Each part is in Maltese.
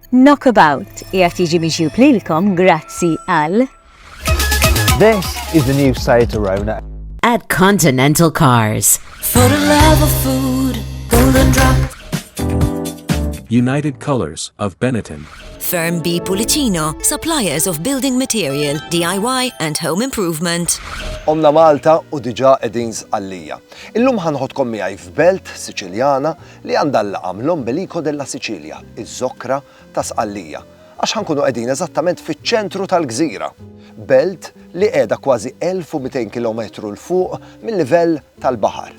Knockabout qiegħed jiġi miġjub lilkom grazzi għal This is the new site to Rona. At Continental Cars. For the love of food, golden drop. United Colors of Benetton. Firm B Pulicino, suppliers of building material, DIY and home improvement. Omna Malta u diġa edin zqallija. Illum ħanħodkom miegħi f'belt Siċiljana li għandha l-laqam l-Ombelico della Sicilia, iż-Żokkra ta' Sqallija, għax ħa nkunu qegħdin eżattament fiċ-ċentru tal-gżira, belt li qiegħda kważi 1,200 kilometru 'l fuq mil-livell tal-baħar.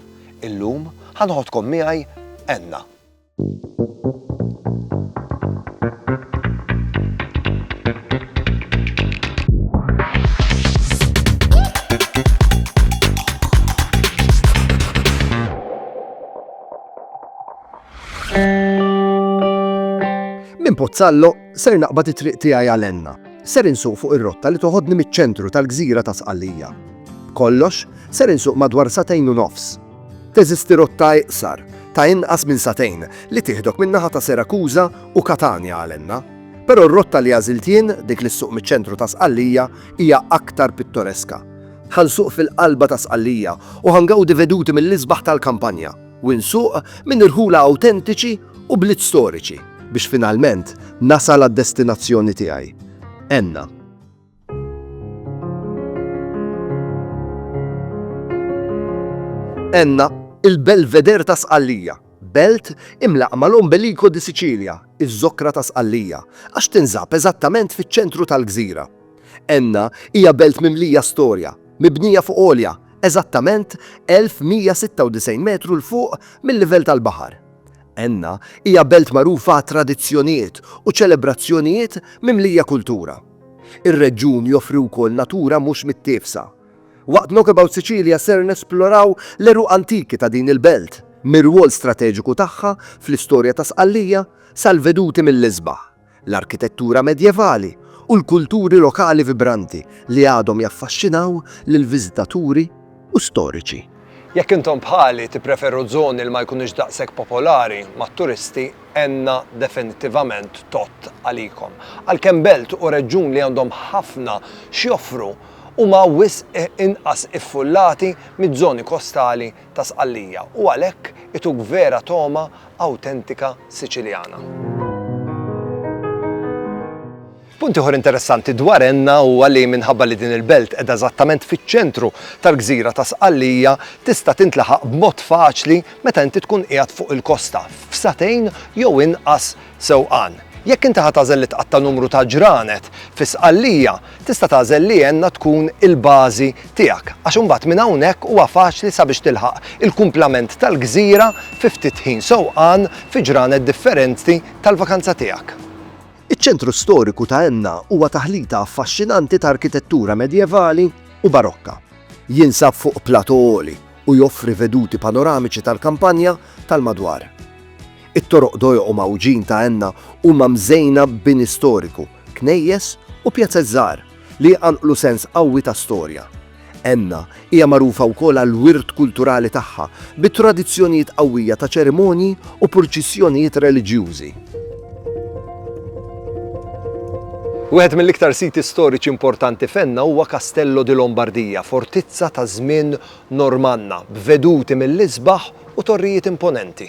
Illum ħa noħodkom miegħi Enna. Minn Pozzallo ser naqbad it-triq tiegħi għal Enna. Ser insuq fuq ir-rotta li toħodni miċ-ċentru tal-gżira ta' Sqallija. Kollox, ser insuq madwar satejn u nofs. Teżisti rotta iqsar, ta' inqas minn satejn, li tieħdok min-naħa ta' Serakuża u Katanja għal Enna. Però r-rotta li għażilt jien, dik li ssuq miċ-ċentru ta' Sqallija, hija aktar pittoreska. Ħa nsuq fil-qalba ta' Sqallija u ħa ngawdi veduti mill-isbaħ tal-kampanja u nsuq minn irħula awtentiċi u bliet storiċi biex finalment nasal għad-destinazzjoni tiegħi. Enna. Enna, il-belveder ta' Sqallija, belt imlaqqa mal-Ombelico di Sicilia, iż-żokra ta' Sqallija, għax tinsab eżattament fiċ-ċentru tal-gżira. Enna hija belt mimlija storja, mibnija fuq għolja eżattament 1,196 metru 'l fuq mil-livell tal-baħar. Enna hija belt magħrufa għat-tradizzjonijiet u ċelebrazzjonijiet mimlija kultura. Ir-reġjun joffri wkoll natura mhux mittiefsa. Waqt Knockabout Sicilia ser nesploraw l-għeruq antiki ta' din il-belt, mir-rwol strateġiku tagħha fl-istorja ta' Sqallija sal-veduti mill-isbaħ. l-arkitettura medjevali u l-kulturi lokali vibranti li għadhom jaffaxxinaw lil viżitaturi u storiċi. Jekk intom bħali tippreferu żoni li ma jkunux daqshekk popolari mat-turisti, Enna definittivament tgħodd għalikom. Għalkemm belt u reġjun li għandhom ħafna x'joffru, huma wisq inqas iffullati miż-żoni kostali ta' Sqallija u għalhekk ituk vera togħma awtentika Siċiljana. Punt ieħor interessanti dwar Enna huwa li minħabba li din il-belt qiegħda eżattament fiċ-ċentru tal-gżira ta' Sqallija tista' tintlaħaq b'mod faċli meta inti tkun qiegħed fuq il-kosta f'satejn jew inqas Sewqan. Jekk inti ħa tagħżel li tqatta' numru ta' ġranet fi Sqallija, tista' tagħżel li Enna tkun il-bażi tiegħek għax imbagħad minn hawnhekk huwa faċli sabiex tilħaq il-kumplament tal-gżira fi ftit ħin sewqan fi ġranet differenti tal-vakanza tiegħek. Iċ-ċentru storiku ta' Enna huwa taħlita affaxxinanti ta' arkitettura medjevali u barokka. Jinsab fuq plateau għoli u joffri veduti panoramiċi tal-kampanja tal-madwar. It-toroq dojqu mgħawġin ta' Enna huma mżejna b'bini storiku, knejjes u pjazez żgħar li jqanqlu sens qawwi ta' storja. Enna hija magħrufa wkoll għall-wirt kulturali tagħha bi tradizzjonijiet qawwija ta' ċerimonji u purċissjonijiet reliġjużi. Wieħed mill-iktar siti storiċi importanti f'Enna huwa Castello di Lombardia, fortizza ta' żmien Normanna, b'veduti mill-isbaħ u torrijiet imponenti.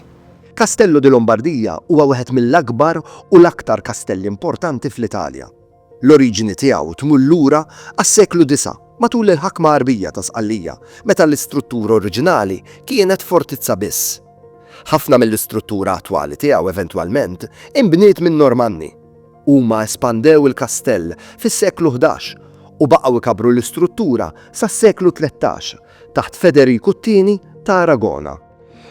Castello di Lombardia huwa wieħed mill-akbar u l-aktar kastelli importanti fl-Italja. L-oriġini tiegħu tmur lura għas-seklu disa' matul il-ħakma Għarbija ta' Sqallija meta l-istruttura oriġinali kienet fortizza biss. Ħafna mill-istruttura attwali tiegħu eventwalment inbniet min-Normanni. Huma espandew il-kastell fis-seklu ħdax u baqgħu jkabbru l-istruttura sas-seklu tlettax taħt Federiku t-Tieni ta' Aragona.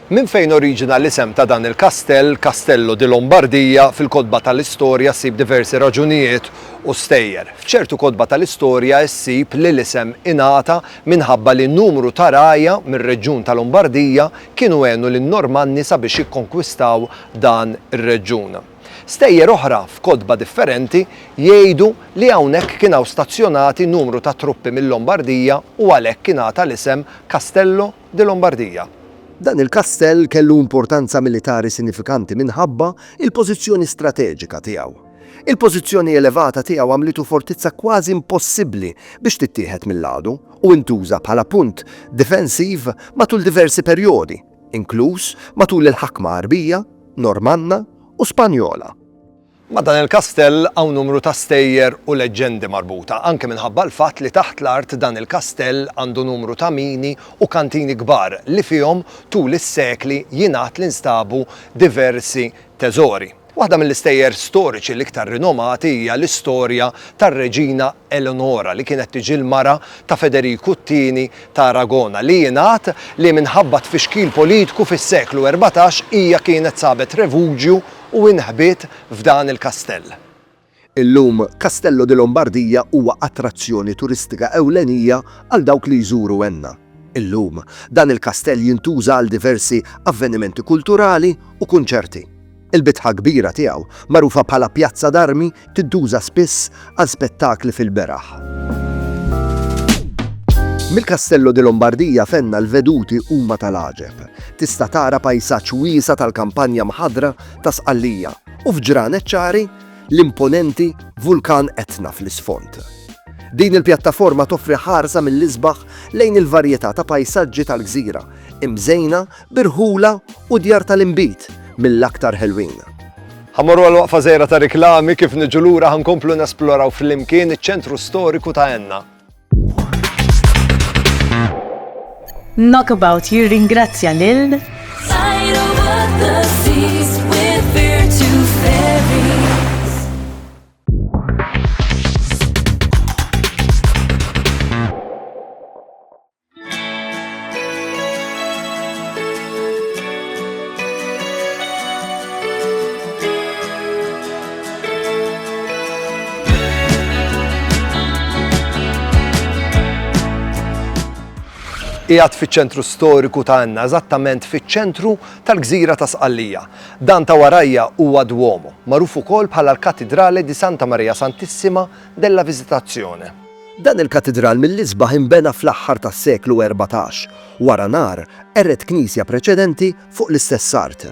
Minn fejn oriġina l-isem ta' dan il-kastell, Castello di Lombardia, fil-kotba tal-istorja ssib diversi raġunijiet u stejjer. F'ċertu kotba tal-istorja ssib li l-isem ingħata minħabba li numru ta' rgħajja mir-reġjun ta' Lombardia kienu għenu lin-Normanni sabiex jikkonkwistaw dan ir-reġjun. Stejjer oħra, f'kotba differenti, jgħidu li hawnhekk kien hawn stazzjonati numru ta' truppi mil-Lombardia u għalhekk ingħata l-isem Castello de Lombardia. Dan il-kastell kellu importanza militari sinifikanti minħabba l-pożizzjoni strateġika tiegħu. Il-pożizzjoni elevata tiegħu għamlitu fortizza kważi impossibbli biex tittieħed mill-għadu u intuża bħala punt difensiv matul diversi perjodi, inkluż matul il-ħakma Għarbija, Normanna u Spanjola. Ma' dan il-kastell hawn numru ta' stejjer u leġġendi marbuta, anke minħabba l-fatt li taħt l-art dan il-kastell għandu numru ta' mini u kantini kbar li fihom tul is-sekli jingħad li nstabu diversi teżori. Waħda mill-istejjer storiċi l-iktar rinomati hija l-istorja tar-Reġina Eleonora li kienet tiġi l-mara ta' Federiku t-Tieni ta' Aragona li jingħad li minħabba tfixkil politku fis-seklu erbatax hija kienet sabet revuġju u inħbiet f'dan il-kastell. Illum Castello di Lombardia huwa attrazzjoni turistika ewlenija għal dawk li jżuru Enna. Illum dan il-kastell jintuża għal diversi avvenimenti kulturali u kunċerti. Il-bitħa kbira tiegħu, magħrufa bħala Pjazza d'Armi, tintuża spiss għal spettakli fil-beraħ. Mill-Castello di Lombardia fenna l-veduti huma tal-għaġeb. Tista' tara pajsaġġ wiesa tal-kampanja mħadra ta' Sqallija u f'ġranet ċari l-imponenti vulkan Etna fl-isfond. Din il-pjattaforma toffri ħarsa mill-isbaħ lejn il-varjetà ta' pajsaġġi tal-gżira, imżejna birħula u djar tal-inbid mill-aktar ħelwin. Ħa mmorru għal waqfa żgħira ta' riklami kif niġu lura ħa nkomplu nesploraw flimkien iċ-ċentru storiku ta' Enna. Knockabout jirringrazzja lil qiegħed fiċ-ċentru storiku ta' għandna, eżattament fiċ-ċentru tal-gżira ta' Sqallija. Dan ta' warajja huwa Duomo, magħruf ukoll bħala l-Katidrale di Santa Maria Santissima della Visitazione. Dan il-katidral mill-isbaħ inbena fl-aħħar tas-seklu erbatax, wara nar qered knisja preċedenti fuq l-istess art.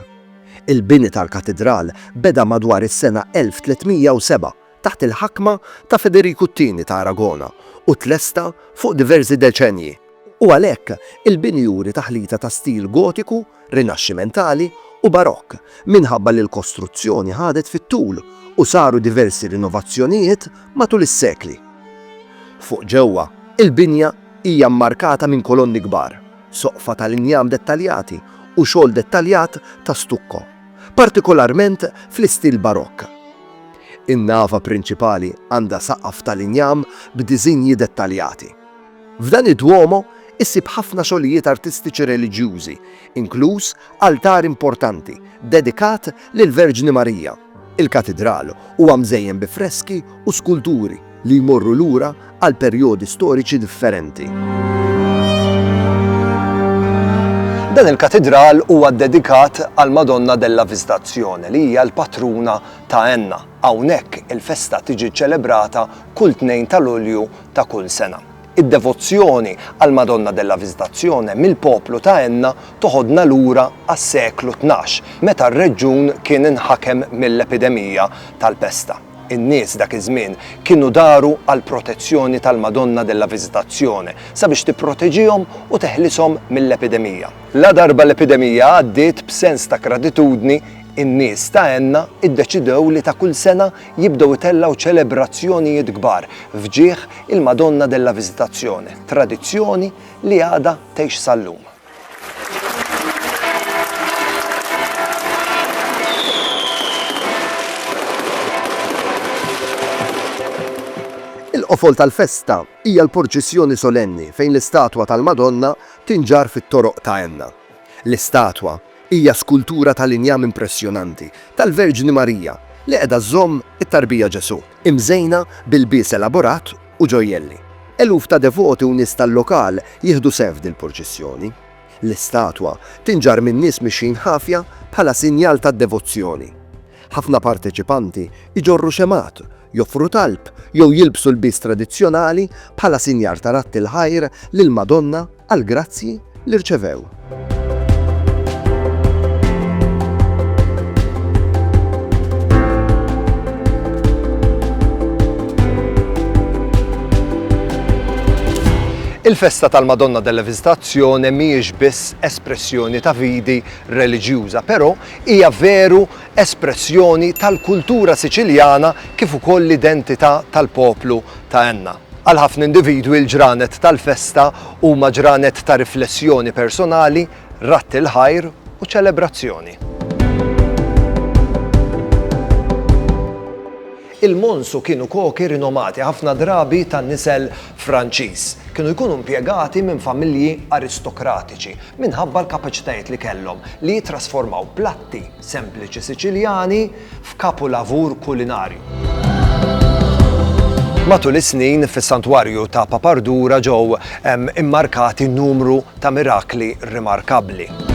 Il-bini tal-katidral beda madwar is-sena 1307 taħt il-ħakma ta' Federiku t-Tieni ta' Aragona u tlesta fuq diversi deċennji. u għalhekk il-bini juri taħlita ta' stil Gotiku, Rinaxximentali u Barokk minħabba li l-kostruzzjoni ħadet fit-tul u saru diversi rinovazzjonijiet matul is-sekli. Fuq ġewwa, il-binja hija mmarkata minn kolonni kbar, soqfa tal-injam dettaljati u xogħol dettaljat ta' stukko, partikolarment fl-istil Barokk. In-nava prinċipali għandha saqaf tal-injam b'diżinji dettaljati. F'dan id-Duomo issib ħafna xogħlijiet artistiċi reliġjużi, inkluż altar importanti dedikat lill-Verġni Marija. Il-katidral huwa mżejjen bi freski u skulturi li jmorru lura għal perjodi storiċi differenti. Dan il-katidral huwa ddedikat għall-Madonna della Visitazione li hija l-patruna ta' Enna. Hawnhekk il-festa tiġi ċċelebrata kull tnejn ta' Lulju ta' kull sena. Id-devozzjoni għall-Madonna della Visitazione mill-poplu ta' Enna toħodna lura għas-seklu tnax, meta r-reġjun kien inħakem mill-epidemija tal-pesta. In-nies dak iż-żmien kienu daru għall-protezzjoni tal-Madonna della Visitazione sabiex tipproteġihom u teħlishom mill-epidemija. Ladarba l-epidemija għaddiet, b'sens ta' gratitudni, in-nies ta' Enna ddeċidew li ta' kull sena jibdew itellgħu ċelebrazzjonijiet kbar f'ġieħ il-Madonna della Visitazione, tradizzjoni li għadha tgħix sal-lum. Il-qofol tal-festa hija l-porċissjoni solenni fejn l-istatwa tal-Madonna tinġarr fit-toroq ta' Enna. L-istatwa, Hija skultura tal-injam impressjonanti tal-Verġni Marija li qiegħda żżomm it-Tarbija Ġesù, imżejna b'ilbies elaborat u ġojjelli. Eluf ta' devoti u nies tal-lokal jieħdu sehem f'dil-purċissjoni. L-istatwa tinġarr minn nies mixjin ħafja bħala sinjal tad-devozzjoni. Ħafna parteċipanti jġorru xemgħat joffru talb jew jilbsu lbies tradizzjonali bħala sinjar ta' radd il-ħajr lill-Madonna għall-grazzji li rċevew. Il-festa tal-Madonna della Visitazzjoni mhijiex biss espressjoni ta' vidi reliġjuża, però hija veru espressjoni tal-kultura Siċiljana kif ukoll l-identità tal-poplu ta' Enna. Għal ħafna individwi l-ġranet tal-festa huma ġranet ta' riflessjoni personali, radd il-ħajr u ċelebrazzjoni. Il-Monsu kienu koki rinomati, ħafna drabi ta' nisel Franċiż. Kienu jkunu impjegati minn familji aristokratiċi minħabba l-kapaċitajiet li kellhom li jittrasformaw platt piatti sempliċi Siċiljani f'kapulavur kulinarju. Matul is-snin fis-Santwarju ta' Papardura ġew immarkati numru ta' mirakli rimarkabbli.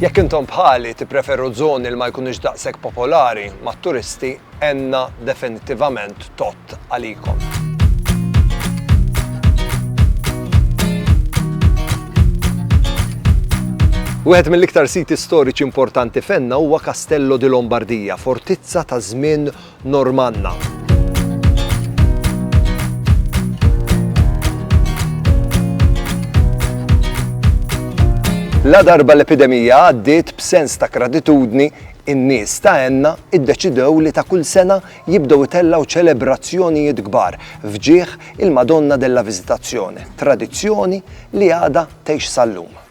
Jekk intom bħali tippreferu żoni li ma jkunux daqshekk popolari mat-turisti, għenna definittivament tot għalikom. Wieħed mill-iktar siti storiċi importanti fenna huwa Castello di Lombardia, fortizza ta' żmien Normanna. La darba l-epidemija għaddiet b'sens ta' gratitudni in-nies ta' enna iddeċidew li ta' kull sena jibdew itellaw ċelebrazzjonijiet kbar fġieħ il-Madonna della Visitazzjoni, tradizzjoni li għada tgħix sal-lum.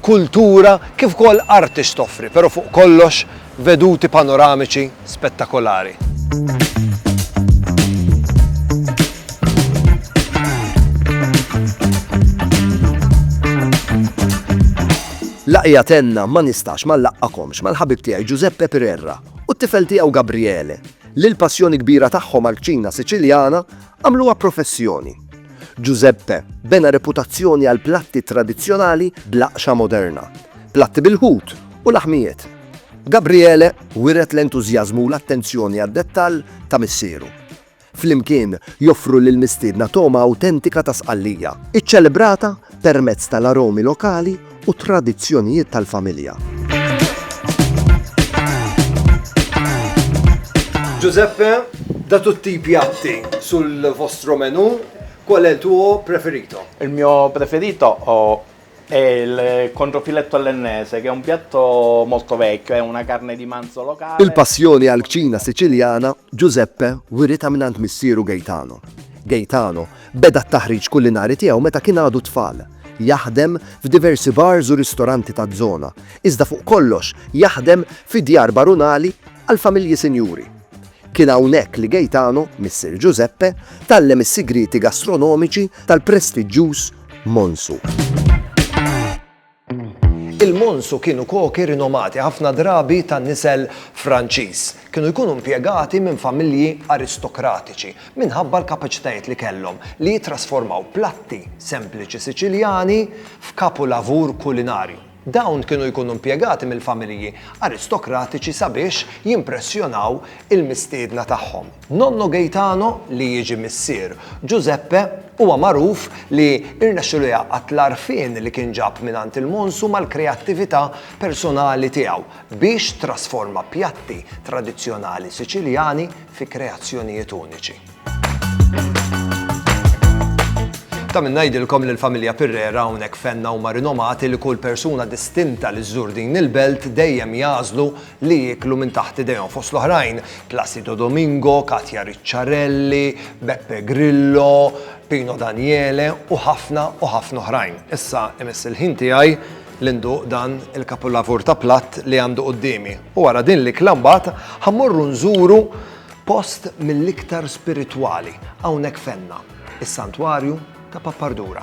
kultura kif ukoll arti x'toffri, però fuq kollox veduti panoramiċi spettakolari. Laqja tenna ma nistax ma nlaqqakomx mal-ħabib tiegħi Giuseppe Pirerra u t-tifel tiegħu Gabriele li l-passjoni kbira tagħhom għall-kċina Siċiljana għamluha professjoni. Giuseppe bena reputazzjoni għall-platti tradizzjonali bl-aqxa moderna, platti bil-ħut u laħmijiet. Gabriele wiret l-entużjażmu u l-attenzjoni għad-dettall ta' missieru. Flimkien joffru lill-mistiedna togħma awtentika ta' Sqallija, iċċelebrata permezz tal-aromi lokali u t-tradizzjonijiet tal-familja. Giuseppe, da tutti i piatti sul vostro menù, qual è il tuo preferito? Il mio preferito è il controfiletto all'ennese, che è un piatto molto vecchio, è una carne di manzo locale. Il-passjoni għall-kċina Siċiljana Giuseppe wiritha mingħand missieru Gaetano. Gaetano Beda t-taħriġ kulinari tiegħu meta kien għadu tfal. Jaħdem f'diversi bars u ristoranti taż-żona, iżda fuq kollox jaħdem fi djar barunali għal familji sinjuri. Kien hawnhekk li Gaetano, missier Giuseppe, tgħallem is-sigrieti gastronomiċi tal-prestiġġjuż Monsu. Il-Monsu kienu koki rinomati, ħafna drabi ta' nisel Franċiż. Kienu jkunu impjegati minn familji aristokratiċi minħabba l-kapaċitajiet li kellhom li jittrasformaw platti sempliċi Siċiljani f'kapulavur kulinarju. Dawn kienu jkunu impjegati mill-familji aristokratiċi sabiex jimpressjonaw il-mistiedna tagħhom. Nonno Gaetano, li jiġi missier Giuseppe, huwa magħruf li rnexxilu jgħaqqad l-għarfien li kien ġab mingħand il-Monsu mal-kreattività personali tiegħu biex trasforma pjatti tradizzjonali Siċiljani fi kreazzjonijiet uniċi. Ta' min ngħidilkom li l-familja Pirrera hawnhekk f'Enna huma rinomati li kull persuna distinta li żżur din il-belt dejjem jagħżlu li jieklu minn taħt idejhom fost l-oħrajn Placido Domingo, Katia Ricciarelli, Beppe Grillo, Pino Daniele u ħafna u ħafna oħrajn. Issa imiss il-ħin tiegħi li nduq dan il-kapulavur ta' platt li għandu quddiemi. U wara din li klambat ħammorru nżuru post mill-iktar spiritwali hawnhekk fenna, is-Santwarju ta' Pappardura.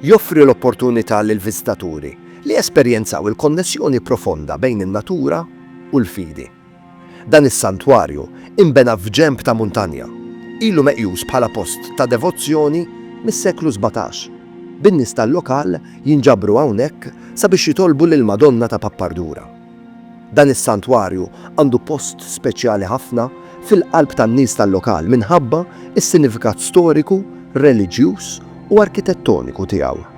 Joffri l-opportunità lill-viżitaturi li jesperjenzaw il-konnessjoni profonda bejn in-natura u l-fidi. Dan is-santwarju inbena f'ġenb ta' muntanja. Ilu meqjus bħala post ta' devozzjoni mis-seklu sbatax, bin-nies tal-lokal jinġabru hawnhekk sabiex jitolbu lill-Madonna ta' Pappardura. Dan is-santwarju għandu post speċjali ħafna fil-qalb tan-nies tal-lokal minħabba s-sinifikat storiku, reliġjuż u arkitettoniku tiegħu.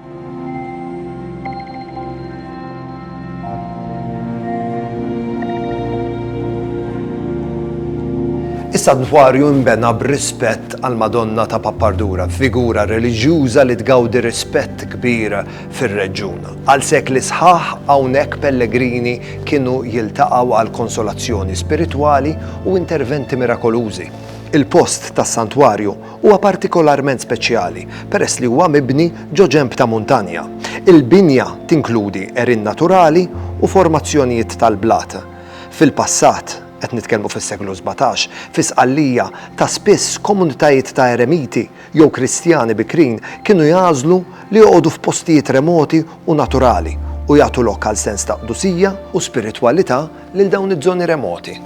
Is-santwarju nbena b'rispett għall-Madonna ta' Pappardura, figura reliġjuża li tgawdi rispett kbir fir-reġjun. Għal sekli sħaħ hawnhekk pellegrini kienu jiltaqgħu għal konsolazzjoni spiritwali u interventi mirakolużi. Il-post tas-santwarju huwa partikolarment speċjali peress li huwa mibni ġo ġenb ta' muntanja. Il-binja tinkludi għerien naturali u formazzjonijiet tal-blat. Fil-passat, qed nitkellmu fis-seklu sbatax, fi Sqallija ta' spiss komunitajiet ta' eremiti jew Kristjani bikrin kienu jagħżlu li joqogħdu f'postijiet remoti u naturali u jagħtu lok għal sens ta' qdusija u spiritwalità lil dawn iż-żoni remoti.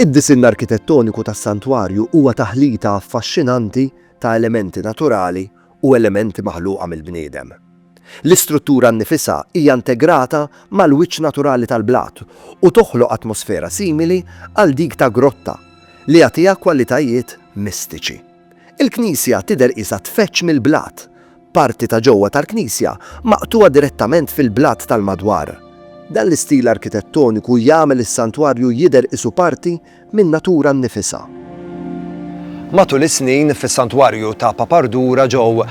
Id-disinn arkitettoniku tas-santwarju huwa taħlita affaxxinanti ta' elementi naturali u elementi maħluqa mill-bniedem. L-istruttura nnifisha hija integrata mal-wiċċ naturali tal-blat u toħloq atmosfera simili għal dik ta' grotta, li jagħtiha kwalitajiet mistiċi. Il-knisja tidher qisha tfeġġ mill-blat. Parti ta' ġewwa tal-knisja maqtugħa direttament fil-blat tal-madwar. Dan l-istil arkitettoniku jagħmel is-santwarju jidher qisu parti min-natura nnifisha. Matul is-snin, fis-Santwarju ta' Papardura ġew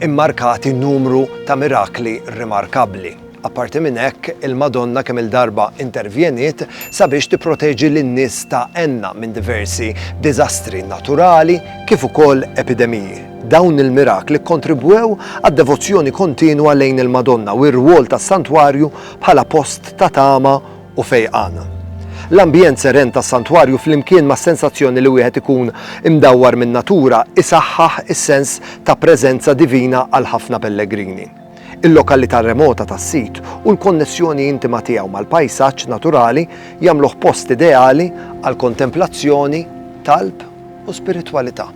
immarkati numru ta' mirakli rimarkabbli. Apparti minn hekk, il-Madonna kemm-il darba intervjeniet sabiex tipproteġi lin-nies ta' Enna minn diversi diżastri naturali kif ukoll epidemiji. Dawn il-mirakli kkontribwew għad-devozzjoni kontinwa lejn il-Madonna u r-rwol tas-Santwarju bħala post ta' tama u fejqana. L-ambjent seren tas-santwarju flimkien mas-sensazzjoni li wieħed ikun imdawwar min-natura isaħħaħ is-sens ta' preżenza divina għal ħafna pellegrini. Il-lokalità remota tas-sit u l-konnessjoni intima tiegħu mal-pajsaġġ naturali jagħmluh post ideali għal kontemplazzjoni, talb u spiritwalità.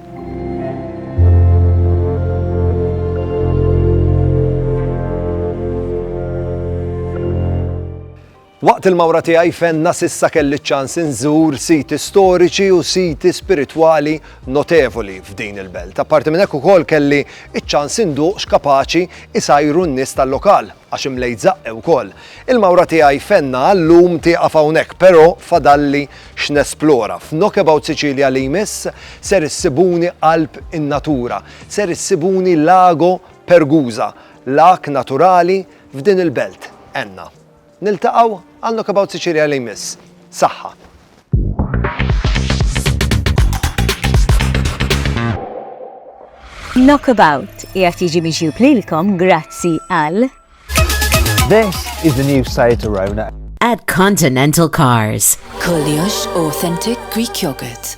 Waqt il-mawra tiegħi f'Enna s'issa kelli ċ-ċans inżur siti storiċi u siti spiritwali notevoli f'din il-belt. Apparti minn hekk ukoll kelli ċ-ċans induq x'kapaċi jsajru n-nies tal-lokal, għax imlejt żaqqi wkoll. Il-mawra tiegħi f'Enna għal-lum tieqaf hawnhekk, però fadalli x'nesplora. F'Knockabout Sicilia li jmiss ser issibuni qalb in-natura, ser issibuni Lago Pergusa, lag naturali F'din il-belt, għenna. Niltaqgħu għal Knockabout Sicilia li jmiss. Saħħa! Knockabout jgħat jiġi miġjub lilkom grazzi għal. This is the new site to Rona. At Continental Cars. Koliosh Authentic Greek Yogurt.